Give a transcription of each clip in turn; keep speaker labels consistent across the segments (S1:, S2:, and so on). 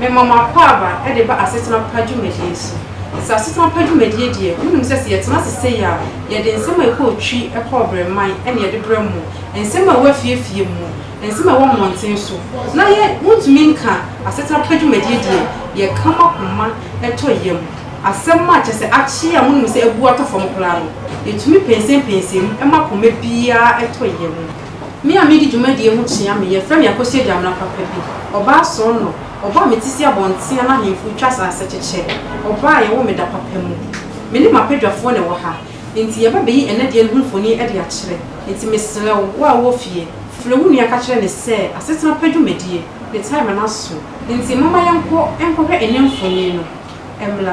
S1: Mema mo akwaaba de ba asetena pa dwumadie so. Sɛ asetena pa dwumadie deɛ, monim sɛ sɛ yɛtena ase sei a, yɛde nsɛm a ɛkɔ otwi, ɛkɔ ɔbrɛman na yɛde brɛ mo, nsɛm a ɛwɔ afiefie mu, nsɛm a ɛwɔ mmɔnten so, na yɛ, montumi nka asetena pa dwumadie deɛ, yɛka mo akoma tɔ yam. Asɛm a kyerɛ sɛ akye a monim sɛ abu atɔ fam koraa no, yɛtumi pɛnsɛmpɛnsɛ mu ma koma biara tɔ yam. Me a medi dwumadie ho kyea me yɛfrɛ me Akosua Gyamena papa bi, ɔbaa soronɔ, ɔbɔ a me ti si abɔnten a n'ahemfo twa asase kyekyɛ, ɔbaa a yɛwoo me da papa mu. Me ne m'abadwafoɔ na ɛwɔ ha, enti yɛba bɛyi ɛnnɛ deɛ no ho mfonin de akyerɛ, enti mesrɛ wo, wo a wowɔ fie, frɛ wo nua ka kyerɛ no sɛ asetena pa dwumadie, ne time no aso, enti momma yɛnkɔ nkɔhwɛ ɛnnɛ mfonin no mmra.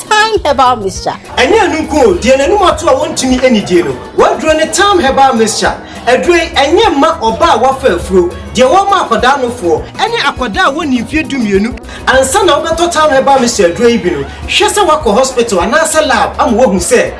S2: Thyme Herbal Mixture. Ɛnyɛ ɛno nko o,
S3: deɛ n'anim ato a wɔntumi nnidie no, w'aduro ne Thyme Herbal Mixture. Aduro yi, ɛnyɛ mma ɔbaa a wafa afuro, deɛ wɔma akwadaa nofoɔ, ɛne akwadaa a wɔnnii mfeɛ dumienu. Ansa na wobɛtɔ Thyme Herbal Mixture aduro yi bi no, hwɛ sɛ woakɔ hospital anaasɛ lab ama wɔahu sɛ.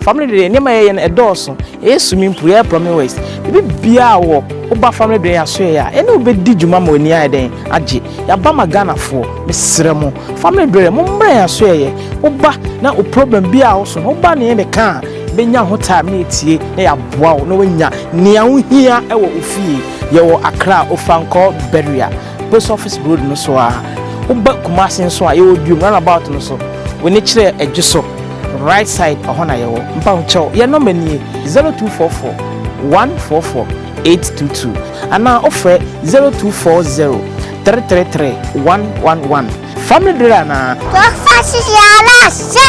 S4: Family dwene nneɛma yɛyɛ no ɛdɔɔso yɛyɛ swimming pool yɛyɛ plumbing works biribi biara wɔ woba family dwene yɛasoɛ yɛ a yɛne wo bɛdi dwuma ma w'ani ayɛ dɛn agye yɛaba ma Ghanafoɔ mesrɛ mo family dwene mo mmra yɛasoɛ yɛ woba na wo problem bi a woso no woba ne yɛn bɛka a bɛnya ho time ne atie na yɛaboa wo na woanya nea wohia wɔ wo fie yɛwɔ Accra Ofankor Barrier Post Office Road no so ara. Woba Kumasi nso a, yɛwɔ Duom runabout no so. W'ani kyerɛ adwo so, right side, ɛhɔ na yɛwɔ. Mpahokyɛw, yɛn nɔma nie, 0244 144 822 anaa wofrɛ 0240 333 111. Family bere anaa? Wɔfa hyehyɛ ara ahyɛ.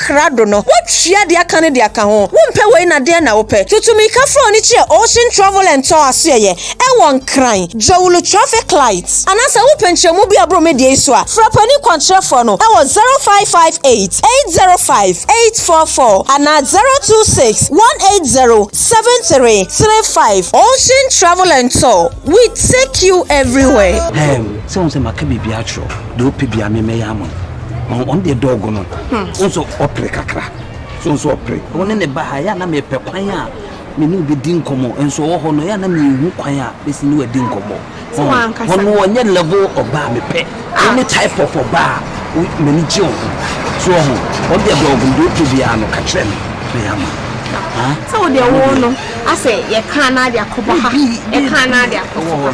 S5: krado no, woatua deɛ aka no de aka ho. Wompɛ wei na deɛn na wopɛ? Tutumirikafo a wɔn ani kyerɛ Ocean Travel and Tour asoɛeɛ ɛwɔ Nkran, Dzawulu Traffic Light. Anaa sɛ wopɛ nkyerɛmu bi a ɛboro me deɛ yi so a, frɛ panin kwankyerɛfoɔ no ɛwɔ 0558 805 844 anaa 026 180 7335. Ocean Travel and Tour, we take you everywhere. Ehm, sɛ wohu sɛ
S6: maka biribiara akyerɛ wo, deɛ wopɛ biara me mɛyɛ ama wo. ɔno deɛ dɔɔgo no wo nso ɔpere kakra so nso ɔpere wo ne ne ba ha yɛ a na mepɛ kwan a me ne wobɛdi nkɔmmɔ nso ɔwɔ hɔ no yɛ a na mehu kwan a bɛsi ne wadi nkɔmmɔ ɔno ɔnyɛ level ɔbaa mepɛ wo ne type of ɔbaa m'ani gye wo ho so ɔho ɔno deɛ dɔɔgo no deɛ wopɛ biara no ka kyerɛ me na yɛ ama sɛ
S7: wodeɛ wo no asɛ yɛkaa no ade akɔba ha yɛkaa no ade akɔfa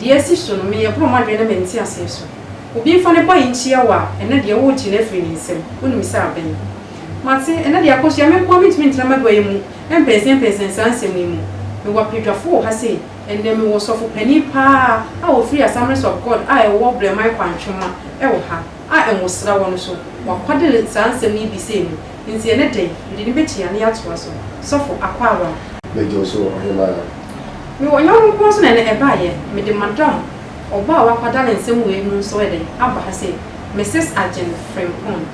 S1: Deɛ asi so no, meyɛ borɔ m'adwene ne me nteaseɛ so. Obi mfa ne bɔne nkyia wo a, ɛnnɛ deɛ woregye no afiri ne nsam, wonim sɛ abɛn. Mate, ɛnnɛ deɛ akɔhyia, me nko ara mentumi ntena m'aguaeɛ mu mpɛnsɛmpɛnsɛn saa nsɛm yi mu. Mewɔ apɛdwafoɔ wɔ ha sei, ɛnnɛ mewɔ ɔsɔfo panin pa ara a ɔfiri Assemblies of God a ɛwɔ Brɛman Kwantwoma wɔ ha a Nwosra wɔ no so, wakwade no saa nsɛm yi bi sei mu. Nti ɛnɛ da yi, mede no bɛtua na yɛatoa so. Sɔfo Akwaawaa. Bɛdwo nso wɔ
S8: Ɔhemaa. Me wɔ
S1: yɔnko nkoa nso na ɛnɛ ɛbaeɛ. Mede Madam ɔbaa a wakwada ne nsɛm wei mu nso ɛdɛ aba ha sei, Mrs. Agyen Frimpong.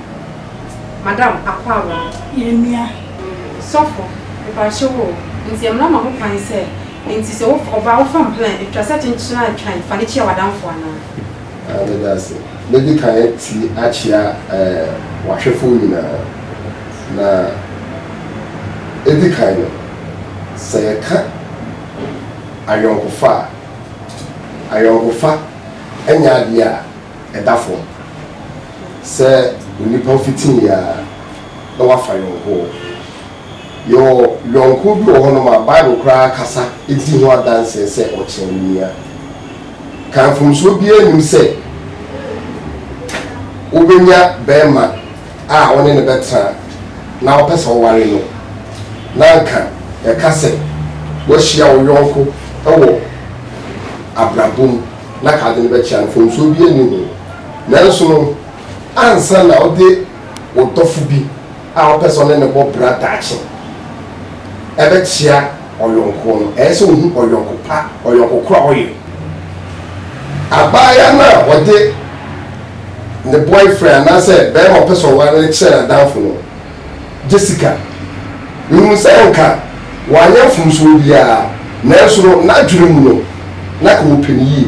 S1: Madam Akwaawaa. Yɛn nua. Sɔfo, mepakyɛw o, nti mmara ma ho kwan sɛ, nti sɛ wo ɔbaa wo fam plan, ɛtwa sɛ kyenkyen a ɛtwan, fa no kyia w'adamfo anaa? Aah meda ase.
S8: Mɛdi kan atie akyea eh, w'ahwɛfoɔ nyinaa. Na ɛdi kan no, sɛ yɛka ayɔnkofa a, ayɔnkofa nyɛ adeɛ a ɛda fam sɛ onipa fitiiɛ ara na wafa yɔnkoɔ. Yɛwɔ yɔnko bi wɔ hɔnom a Bible koraa ankasa di ho adanse sɛ ɔkyɛn ne nua. Ka mfomsoɔ biara nnim sɛ wobɛnya barima a wo ne no bɛtena na wopɛ sɛ woware no, na anka yɛka sɛ woahyia wo yɔnko wɔ abrabɔ mu na anka wode no bɛkyɛ a, mfomsoɔ biara nni ho. Nanso no, ansa na wode wo dɔfo bi a ɔpɛ sɛ ɔne no bɔ bra daakye bɛkyea ɔyɔnko no, ɛyɛ sɛ ohu ɔyɔnko pa, ɔyɔnko koro a ɔyɛ. Abaayewa no a ɔde ne boyfriend anaasɛ barima a ɔpɛ sɛ ɔware no kyerɛ n'adamfo no, Jessica, rehu sɛ anka wanyɛ mfomsoɔ biara, nanso no, n'adwene mu no, na anka ɔpɛ no yie.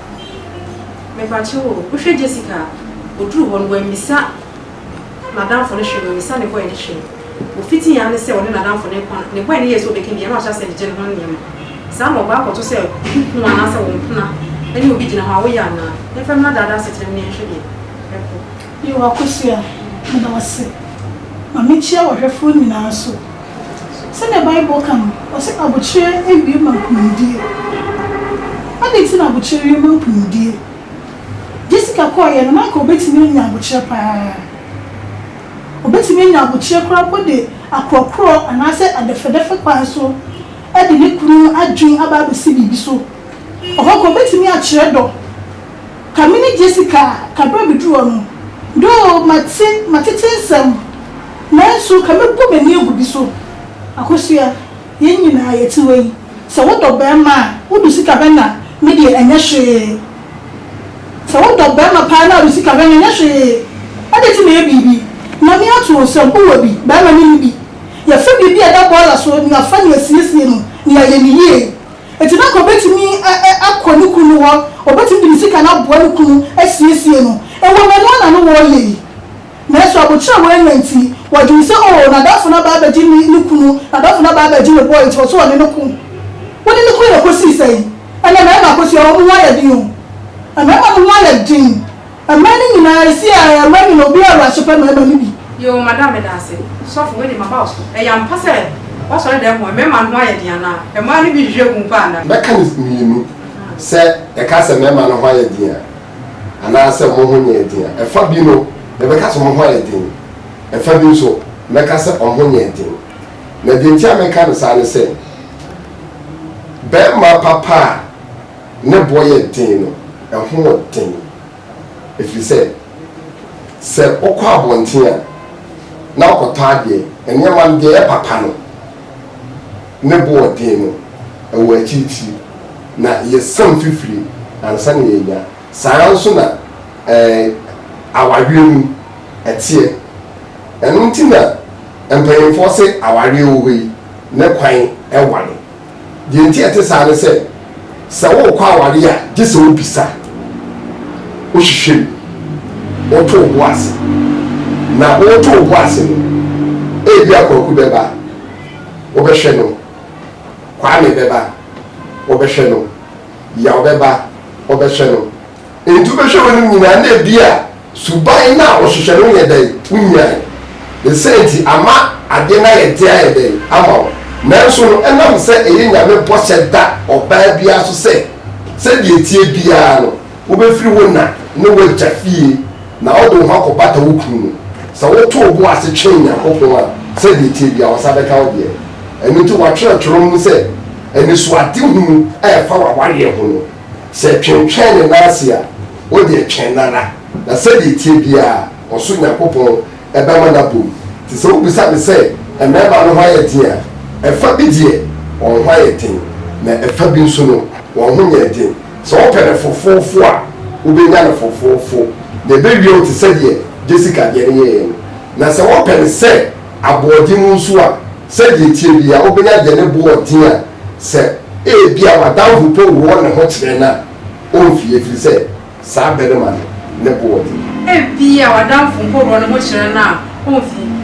S1: Mepakyɛw o, wohwɛ Jessica a, oduu hɔ no, wammisa n'adamfo no hwee, wammisa ne boy no hwee. Ofitee ara ne sɛ ɔne n'adamfo no rekɔ no, ne boy no yɛɛ sɛ ɔbɛka bi a, na wahyɛ ase regyegye ne ho nneɛma. Saa na ɔba akɔto sɛ wo kunu anaasɛ wo mpena ne obi gyina hɔ a, woyɛ anaa? Yɛmfa mmra daadaa asetena mu na yɛnhwɛ deɛ ɛkɔ. Yew Akosua,
S9: meda wo ase. Ma mekyia w'ahwɛfoɔ nyinaa nso. Sɛdeɛ Bible ka no, ɔse abokyerɛ awie ma nkunimdie. Adɛn nti na abokyerɛ wie ma nkunimdie? Jessica kɔeɛ no, na anka ɔbɛtumi anya abokyerɛ pa ara. Ɔbɛtumi anya abokyerɛ koraa mpo de akorɔkorɔ anaasɛ adɛfɛdɛfɛ kwan so de ne kunu adwene aba abɛsi biribi so. Ɔhɔ nka ɔbɛtumi akyerɛ dɔ. Ka me ne Jessica ka berɛ a meduru hɔ no, though mate matete nsɛm nanso ka mɛbɔ m'ani agu bi so. Akosua, yɛn nyinaa yɛte hɔ yi, sɛ wodɔ barima a wode sika bɛna me deɛ ɛnyɛ hwee. Sɛ wodɔ barima paa na wode sika bɛna ɛnyɛ hwee. Adɛn nti na ɛyɛ biribi? Ma me ato wo nsam, wowɔ bi? Barima menni bi. Yɛfa biribi a ɛda bɔɔla so na yɛafa no asiesie no na yɛayɛ no yie. Enti na anka obetumi akɔ ne kunu hɔ, obetumi de ne sika no aboa ne kunu asiesie no. Ɛwom, ɛno ara na na wɔreyɛ yi. Nanso aboterɛ a wɔanya nti, wɔdwene sɛ, 'Oo, n'adamfo no aba abegye ne ne kunu, n'adamfo no aba abegye ne boy, enti ɔsɛ sɛ ɔne no ko. Wone no koe na ekosii sɛn? Ɛnnɛ mmarima akosua, wɔn ho ayɛ den o. Mmarima no ho ayɛ den. Mma no nyinaa ɛsi a ɛyɛ mma nyina obi a wɔ aso pɛ mɛma no bi. Yoo madam meda
S1: ase. Sɔfo wei deɛ maba wo so. Ɛyɛ ampa sɛ w'asɔre dɛm hɔ mmarima no ho ayɛ den anaa? Mmaa no bi hwehwɛ hu paa na. Mɛka no mmienu,
S8: sɛ ɛka sɛ mmarima no ho ayɛ den a anaa sɛ wɔn ho nyɛɛ den a. Ɛfa bi no mɛbɛka sɛ wɔn ho ayɛ den, ɛfa bi nso mɛka sɛ wɔn ho nyɛɛ den. Na deɛ nti a mɛka no saa ne sɛ, barima papa a. Ne boɔ yɛ den no, ɛho wɔ den, ɛfiri sɛ, sɛ wokɔ abɔnten a na wokɔtɔ adeɛ, nneɛma no deɛ ɛyɛ papa no, ne bo wɔ den no, ɛwɔ akyirikyiri, na yɛsam fifire ansa na yɛanya. Saa ara nso na ɛɛ, awareɛ mu ɛteɛ. Ɛno nti na mpanimfoɔ se awareɛ wɔ hɔ yi, ne kwan ware. Deɛ nti a ɛte saa ne sɛ, sɛ worekɔ awareɛ a, gye sɛ wobisa, wohwehwɛ mu, woto wo bo ase. Na woreto wo bo ase no, ebia Kwaku bɛba, wobɛhwɛ no, Kwame bɛba, wobɛhwɛ no, Yaw bɛba, wobɛhwɛ no. Enti wobɛhwɛ w'anim nyinaa na ebia suban no a wɔhwehwɛ no nyɛ dɛn? Wonyae. Ne saa nti, ama adeɛ no ayɛ den ayɛ dɛn ama wo? Nanso no, ɛnam sɛ ɛyɛ Nyame bɔhyɛ da ɔbaa biara so sɛ, sɛdeɛ ɛteɛ biara no, wobɛfiri wo na ne w'agya fie na wode wo ho akɔbata wo kunu no, sɛ woto wo bo ase twɛn Nyankopɔn a, sɛdeɛ ɛteɛ biara Ɔnsa bɛka wo deɛ. Ɛno nti wɔatwerɛ twerɛ mu sɛ, Anisoadehunu a ɛfa w'awareɛ ho no. Sɛ twentwɛn ne nan ase a, wo deɛ twɛn no ara, na sɛdeɛ ɛteɛ biara, ɔsoro Nyankopɔn bɛma no abɔ mu. Enti sɛ wobisa me sɛ, 'Mmarima no ho ayɛ den a? Ɛfa bi deɛ, wɔn ho ayɛ den, na ɛfa bi nso no, wɔn ho nyɛɛ den. Sɛ wɔpɛ no fofoofo a, wobɛnya no fofoofo, na ɛbɛwia wo te sɛ deɛ Jessica deɛ no yɛeɛ no. Na sɛ wɔpɛ no sɛ aboɔden mu nso a, sɛdeɛ ɛteɛ biara, wobɛnya deɛ ne boɔ yɛ den a Sɛ ebia w'adamfo mpo wɔ ne ho kyerɛ no a, omfi, efiri sɛ saa barima no, ne bo wɔ den. Ebia
S1: w'adamfo mpo wɔ ne ho kyerɛ no a, omfi.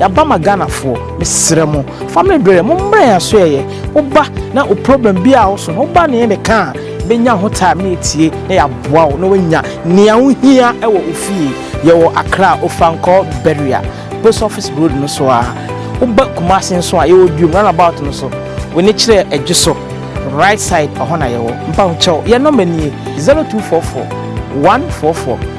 S4: Yaba ma Ghana foɔ mesrɛ mo family berɛ mo mmerɛ yɛn aso yɛyɛ woba na o problem bi a woso no woba na yɛn de ka a bɛnya ho time na yɛtie na yɛaboa wo na woanya nea wohia wɔ ofie yɛwɔ Accra Ofankor Beria post office road no so a woba Kumasi nso a yɛwɔ Biom runabout no so w'ani kyerɛ adwo so right side ɛhɔ na yɛwɔ mpahokyɛw yɛn nɔmba nie 0244 144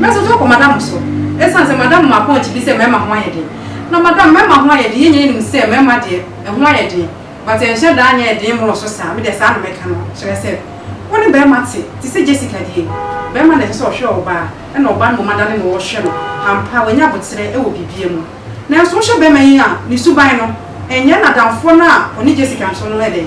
S1: Mɛso to akɔ madam so ɛsiane sɛ madam ma pɔnkye bi sɛ mmarima ho ayɛ den. Na madam mmarima ho ayɛ den, yɛn nyinaa nim sɛ mmarima deɛ ɛho ayɛ den but ɛnhyɛ da nyɛ den mmoroso saa. Me deɛ saa na mɛka no kyerɛ sɛ wo ne barima te te sɛ Jessica deɛ barima na ɛsɛ sɛ ɔhwɛ ɔbaa ɛna ɔbaa no mmom adane ne ho hwɛ no. Ampa wanya aboterɛ wɔ biribiara mu nanso wohwɛ barima yi a ne suban no ɛnyɛ n'adamfoɔ no a ɔne Jessica nso no ɛdɛn.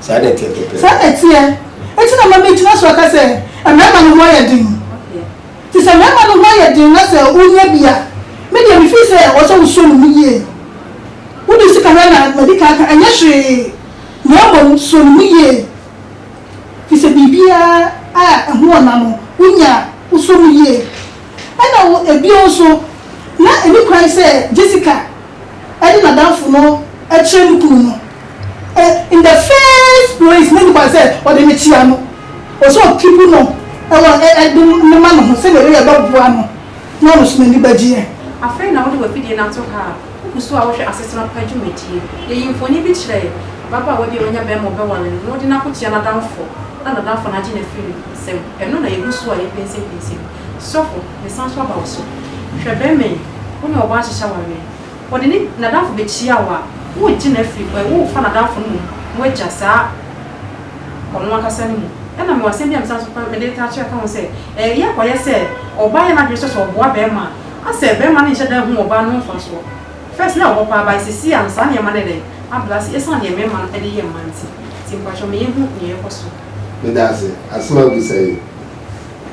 S9: Saa na ɛteɛ
S8: pɛpɛɛpɛ. Saa na ɛteɛ.
S9: Enti na ma megyina so aka sɛ mmarima no ho ayɛ den. Enti sɛ mmarima no ho ayɛ den na sɛ wonya bi a, me deɛ me feel sɛ ɛwɔ sɛ wosɔ ne mu yie. Wode sika hwɛ na madi kan aka, ɛnyɛ hwee na mmom sɔ ne mu yie. Firi sɛ biribiara a ɛho wɔ na no wonya a, wosɔ mu yie. Ɛna wo, ɛbio nso, na ɛni kwan sɛ Jessica. ɛne n'adamfo no kyerɛ ne kunu no ɛ in the first place na ɛni kwan sɛ ɔde no kyea no ɔsɛ ɔkipu no ɛwɔ ɛ ɛde no ma ne ho sɛdeɛ ɛbɛyɛ ɛbɛboa no na ɔno nso n'ani bɛgyeɛ. Afei na wode
S1: w'afidie no ato ha a wogu so a wohwɛ asetena pa dwumadie. Yɛyi mfoni bi kyerɛ ababaawa bi a wanya barima a ɔbɛware no na wode no akokyea n'adamfo na n'adamfo no agye no afiri ne nsam. Ɛno na yɛgu so a yɛpinsimpinsi no. Sɔfo, mesan nso aba wo so. Hwɛ, bɛmma yi, wo ne ɔbaa nhyehyɛ wɔn nnɛ. Ɔde ne, n'adamfo bekyia wo a, woregye no afiri hɔ ɛ, worefa n'adamfo no mmom, woagya saa ɔno ankasa no mu. Ɛnna mewɔ asɛm bi a mesan nso pɛ, mede retaa akyerɛ, ka ho sɛ, ɛ, yɛ kɔyɛ sɛ ɔbaa yɛ n'adwene sɛ sɛ ɔboa bɛmma a, asɛ bɛmma no nhyɛ da nhu ɔbaa no ho mfasoɔ. First, na ɔhɔ paa, but seesei a, saa nneɛma no ayɛ dɛn? Abrɛ ase, esiane deɛ mɛmma no de yɛ mma nti. Nti mpakyɛw, ma yɛnhu nea ɛrekɔ so. Meda ase.
S8: Asɛm a wabisa yi.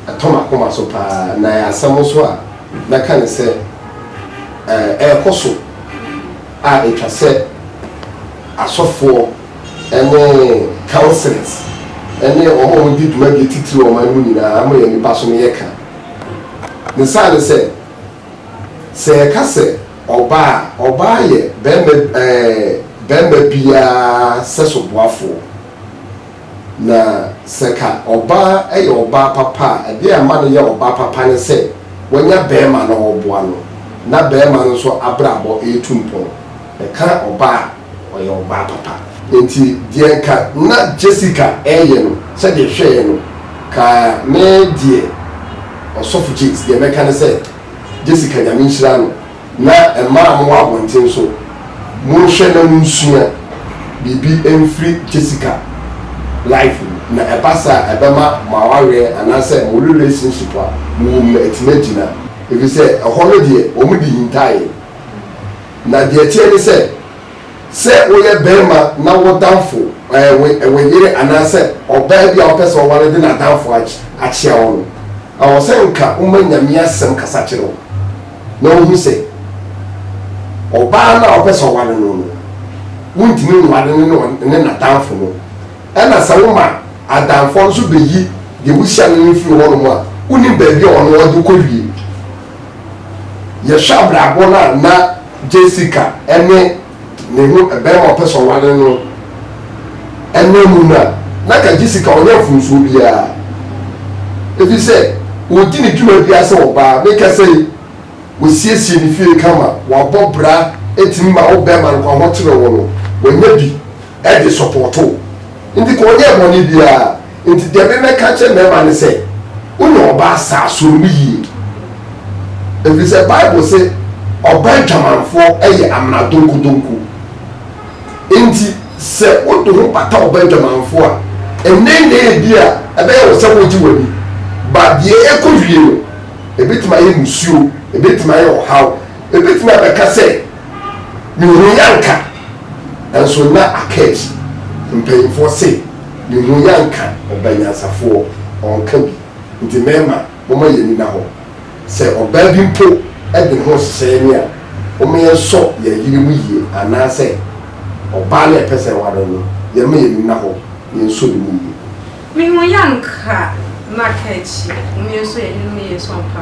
S8: Ɛtɔ m'akoma so pa ara, na ɛyɛ asɛm nso a mɛka ne sɛ ɛrekɔ so a ɛtwa sɛ asɔfoɔ ne councillors ne wɔn a wɔdi dwumadie titire ɔman no mu nyinaa ma yɛn nnipa so no yɛ ka. Ne saa ne sɛ, sɛ yɛka sɛ ɔbaa a, ɔbaa yɛ barima ɛɛ barima biara sɛso boafoɔ. Na sɛ ka ɔbaa yɛ ɔbaa papa a, ɛdeɛ a ɛma no yɛ ɔbaa papa ne sɛ wanya barima na ɔreboa no, na barima no nso abrabɔ retu mpɔn. Ɛka ɔbaa a, ɔyɛ ɔbaa papa. Enti deɛ nka na Jessica reyɛ no, sɛdeɛ ɛhwɛeɛ no, ka me deɛ, Ɔsɔfo James, deɛ mɛka ne sɛ, Jessica, Nyame nhyira no. na mmaa a mowɔ abɔnten nso, monhwɛ na monsua biribi mfiri Jessica life mu, na ɛba saa a, ɛbɛma mo awareɛ anaasɛ mo relationship a mowɔ mu no atumi agyina, ɛfiri sɛ ɛhɔ no deɛ wɔde hintaaeɛ. Na deɛ ɛteɛ ne sɛ, sɛ woyɛ barima na wo damfo, ɛɛ, wo yere anaasɛ ɔbaa bi a wopɛ sɛ woware de n'adamfo akyea wo no, ɛwɔ sɛ nka woma Nyame Asɛm kasa kyerɛ wo. na ɔhu sɛ ɔbaa no a ɔpɛ sɛ ɔware no no, wontumi nware no ne ɔn ne n'adamfo no. Ɛna sɛ woma adamfoɔ no nso bɛyi deɛ wohyia no no firi hɔnom a, wonim baabi a ɔno ɔde kɔwie. Yɛhwɛ abrabɔ no a na Jessica ne Ne ho bɛrima a ɔpɛ sɛ ɔware no nam mu no a, na anka gye sika, ɔnyɛ mfomsoɔ biara, ɛfiri sɛ ɔdi ne dwuma biara sɛ ɔbaa. Me kasa yi, wasiesie ne fie kama, wabɔ bra, ɛtumi ma wo bɛrima no kwan, ɔkyerɛ wo no, wanya bi. de sɔpɔɔto wo. Enti ka ɔnyɛɛ bɔne biara. Enti deɛ me mɛka akyerɛ mmarima ne sɛ, wonya ɔbaa saa, suro no yie. Ɛfiri sɛ Bible se, ɔbaa adwamanfoɔ yɛ amena donkudonku. Enti sɛ wode ho bata ɔbaa adwamanfoɔ a, nnɛnnɛ ebi a ɛbɛyɛ wo sɛ wogye w'ani. But deɛ ɛkɔ wie no, ɛbɛtumi ayɛ musuo, ɛbɛtumi ayɛ ɔhaw. Ɛbɛtumi abɛka sɛ, me ho yɛ anka. Nso na Akaish mpanyimfoɔ se ne ho yɛ anka ɔba nyansafoɔ, ɔnka bi, nti mɛɛma momma yɛn ani nna hɔ. Sɛ ɔbaa bi mpo de ne ho rehyehyɛ yɛne a, momma yɛn sɔ yɛn yere mu yie anaa sɛ ɔbaa no a yɛpɛ sɛ yɛware no no, yɛmma yɛn ani nna hɔ na yɛn sɔ ne mu yie. Me ho yɛ anka na
S1: Akaish, momma yɛn sɔ yɛn yere mu yie nso ɔmpa.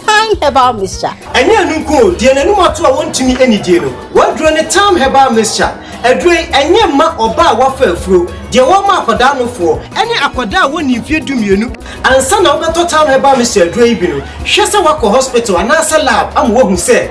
S2: Thyme Herbal Mixture. Ɛnyɛ ɛno nko o,
S3: deɛ n'anim ato a wɔntumi nnidie no, w'aduro ne Thyme Herbal Mixture. Aduro yi, ɛnyɛ mma ɔbaa a wafa afuro, deɛ wɔma akwadaa nofoɔ, ɛne akwadaa a wɔnnii mfeɛ dumienu. Ansa na wobɛtɔ Thyme Herbal Mixture aduro yi bi no, hwɛ sɛ woakɔ hospital anaasɛ lab ama wɔahu sɛ.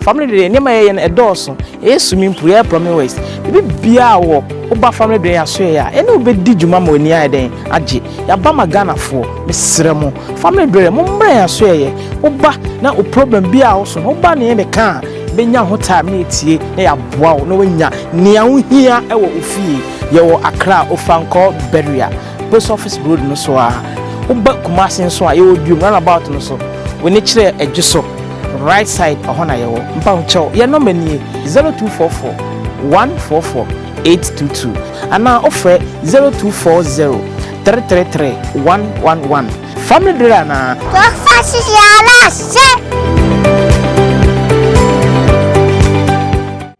S4: Family dwene nneɛma yɛyɛ no ɛdɔɔso yɛyɛ swimming pool yɛyɛ plumbing works biribi biaa wɔ woba family dwene yɛasoɛ yɛ a yɛne wo bɛdi dwuma ma w'ani ayɛ dɛn agye yɛaba ma Ghanafoɔ mesrɛ mo family dwene mo mmra yɛasoɛ yɛ woba na wo problem biaa wo so no woba ne yɛne ka a bɛnya ho time ne atie na yɛaboa wo na wanya nea wohia wɔ wo fie yɛwɔ Accra Ofankor Barrier. Post Office Road no so ara. Woba Kumasi nso a, yɛwɔ Duom runabout no so. W'ani kyerɛ adwo so, right side, ɛhɔ na yɛwɔ. Mpahokyɛw, yɛn nɔma nie, 0244 144 822 anaa wofrɛ 0240 333 111. Fam no duru anaa? Wɔfa hyehyɛ ara ahyɛ.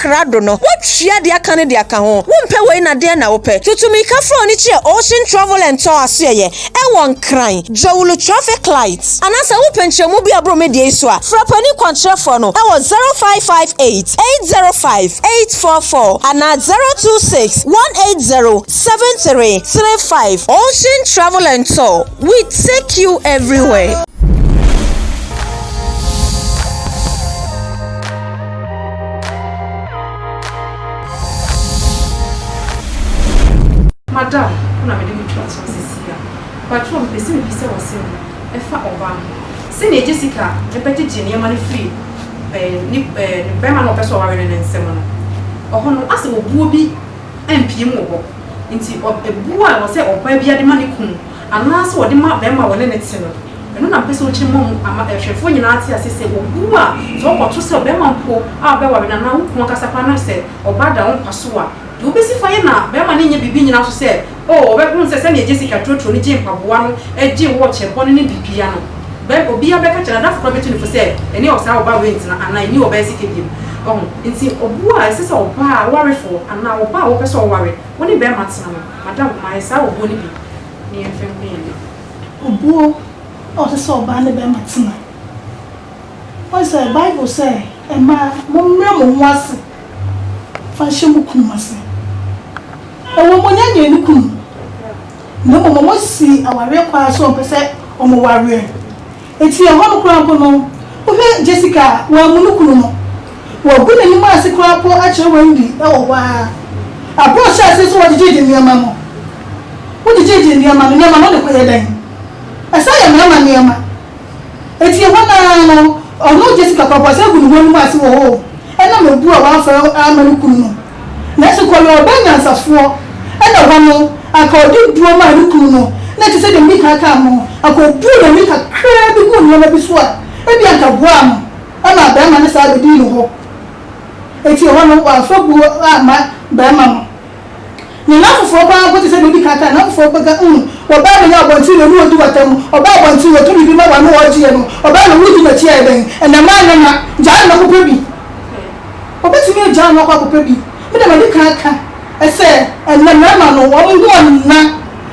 S5: krado no, woatua deɛ aka no de aka ho. Wompɛ wei na deɛn na wopɛ? Tutumirikafo a wɔn ani kyerɛ Ocean Travel and Tour asoɛeɛ ɛwɔ Nkran, Dzawulu Traffic Light. Anaa sɛ wopɛ nkyerɛmu bi a ɛboro me deɛ yi so a, frɛ panin kwankyerɛfoɔ no ɛwɔ 0558 805 844 anaa 026 180 7335. Ocean Travel and Tour, we take you everywhere.
S1: Madam ko na mede no to aso seesei a. Mpakyɛw mepɛ sɛ mibisa wo asɛm bi ɛfa ɔbaa ho. Sɛnea Jessica bɛgyegye nneɛma no firi ɛɛ ne ɛɛ ne barima no a ɔpɛ sɛ ɔware no no nsam no, ɛhɔ no asɛ obuo bi ampue mu wɔ hɔ. Nti ɔ ɛbuo a ɛwɔ sɛ ɔbaa biara de ma ne kunu Anaasɛ wɔde ma barima a wɔne no te no. Ɛno na mepɛ sɛ wokyerɛ ma mu ama ahwɛfoɔ nyinaa ate aseɛ sɛ obu a sɛ wokɔto sɛ ɔbarima mpo a wobɛware no anaa wo kunu ankasa koraa no sɛ ɔba da wo nkwa so a, deɛ wobɛsi fa yɛ na barima no nyɛ biribi nnyina so sɛ oh wɔbɛhunu sɛ sɛdeɛ Jessica turoturoo no gyee mpaboa no gyee wo ɔkyɛ bɔne no de pia no bɛn obiara bɛka kyerɛ no adamfo koraa bɛtu no fo sɛ ɛne ɔsaa ɔbaa wei ntena anaa ɛnni ɔbaa sika bio. Wahu? Enti obu a ɛsɛ sɛ ɔbaa warefoɔ anaa ɔbaa a wopɛ sɛ ɔware wo ne barima tena no. Madam,
S9: mayɛ saa obuo no bi ne yɛn mfa nku yɛn mma. Obuo a ɔsɛ sɛ ɔbaa ne barima tena. Woahu sɛ Bible sɛ mmaa mommrɛ mo ho ase mfa nhyɛ mo kunu ase. Ɛwɔ mu ɔnya nyɛɛ ne kunu na mmom wɔsii awareɛ kwan so ɔmpɛ sɛ wɔware. Enti ɛhɔ no koraa mpo no, wohwɛ Jessica a, wɔammu no kunu no. Wɔagu n'anim ase koraa mpo akyerɛ Wendy wɔ hɔ ara. Bere a ɔhyɛɛ ase sɛ ɔgyegyeegye nneɛma no, wogyegyeegyee nneɛma no, nneɛma no wode kɔyɛ dɛn? Ɛsan yɛ mmarima nneɛma. Enti ɛhɔ no ara no, ɔno Jessica koraa mpo, ɔsan gu ne ho anim ase wɔ hɔ o, ɛnam abu a wamfa amma ne kunu no. Nanso Kɔlɔ ɔbaa nyansafoɔ na hɔ no anka ɔde duro maa ne kunu no na te sɛ deɛ Mika kaa no no anka ɔbuu n'ani kakraa bi guu nneɛma bi so a ebia anka boaa no maa barima no saa bɛdii ne hɔ enti ɛhɔ no wamfa buo amma barima no ne nan foforɔ paa mpo te sɛ deɛ ɔdi kan kaa nan foforɔ mpo ka mm ɔbaa bɛnya abɔnten wɔ ne ɔdi wata mu ɔbaa abɔnten wɔ to biribi ma wano ɔgyeɛ no ɔbaa na wodi n'akyi a ɛdɛn ɛnɛ maa nyɛ na gyaa na kɔpɛ bi. Obetumi agyaa no akɔ akɔpɛ bi. Me de madi kan aka sɛ ɛnnɛ mmarima no wɔn ho nna.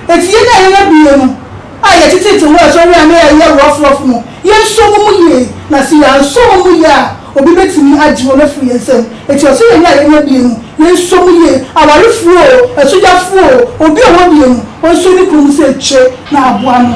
S9: Enti yɛn a yɛn abien no a yɛteteete wɔ asɔre a na yɛyɛ rough-rough no, yɛnsɔ wɔn mu yie. Na sɛ yɛansɔ wɔn mu yie a, obi betumi agye wɔn afiri yɛn nsam. Enti ɔse yɛn a yɛn abien no yɛnsɔ mu yie. Awarefo oo, asugyafo oo, obi a ɔwɔ abien no, ɔnsɔ ne kunu mu sɛ akyire na aboa no.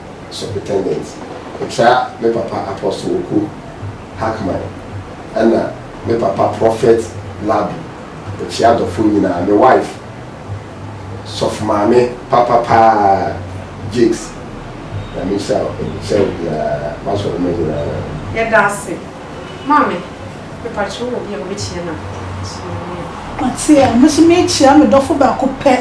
S8: Superintendent, Ɔtra me papa Apostle Oku Hackman ɛna me papa Prophet Labi Okyea Dɔfo nyinaa, me wife Sɔfo Maame papa paa Jakes Nyame nhyira wo nhyira obiara, m'asɔremma nyinaa. Yɛda ase,
S1: Maame.
S9: Mepatwo wɔ bi a obekyia na so yɛ. Ɔte a, me nso mekyia me dɔfo baako pɛ.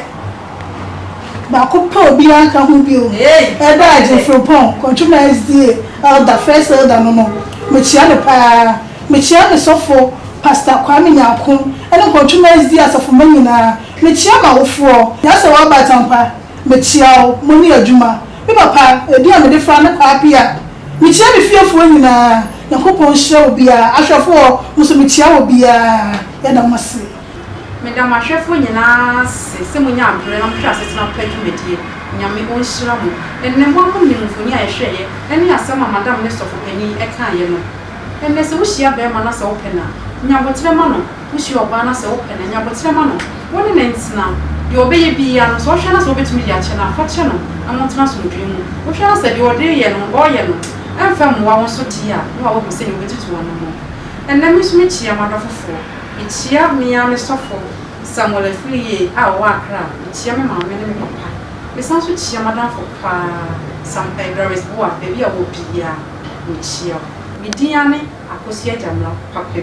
S9: Baako pɛ a obiara nka ho bio. Ɛda a Jim Frimpong, Kwantuma SDA elder, first elder no no, mekyia no paa. Mekyia me sɔfo Pastor Kwame Nyarko ne Nkwantuma SDA asafo mma nyinaa. Mekyia m'awofoɔ. Nyasɛwa Abatangpa, mekyia wo. Mo ne adwuma. Me papa, edin a mede fra no kɔ ara pii a, mikyia me fiefoɔ nyinaa. Nyankopɔn nhyira obiara. Ahwɛfoɔ, mo nso mekyia obiara. Yɛda mo ase. Meda
S1: m'ahwɛfoɔ nyinaa ase sɛ monyaa berɛ na mohwɛɛ asetena pa dwumadie. Nyame ɔnhyira mo. Ɛnnɛ, mo ara monim mfoni a yɛhwɛeɛ ne asɛm a Madam ne Sɔfo Panin kaeɛ no. Ɛnnɛ, sɛ wohyia bɛɛma na sɛ wopɛ no a, nya aboterɛ ma no. Wuhyia ɔbaa no a, sɛ wopɛ no a, nya abotire ma no. Wo ne no ntena. Deɛ ɔbɛyɛ biara no, sɛ wohwɛ no a sɛ wobɛtumi de akyɛ no a, fa kyɛ no na montena asomdwoe mu. Wohwɛ no a sɛ deɛ ɔde reyɛ no, ɔreyɛ no mfa mmoa wo nso deɛ a, na woahu sɛnea wobɛtutu w'anammɔn. Ɛnnɛ me nso mekyia m'adɔfofoɔ. Mekyia me ara me sɔfo Samuel Afiriye a ɔwɔ Accra. Mekyia me maame ne me papa. Mesan nso kyia m'adamfo pa ara, Sam eh, Doris Boah, baabi a wowɔ biara, mekyia wo. Me din ara ne Akosua Gyamira Papa bi.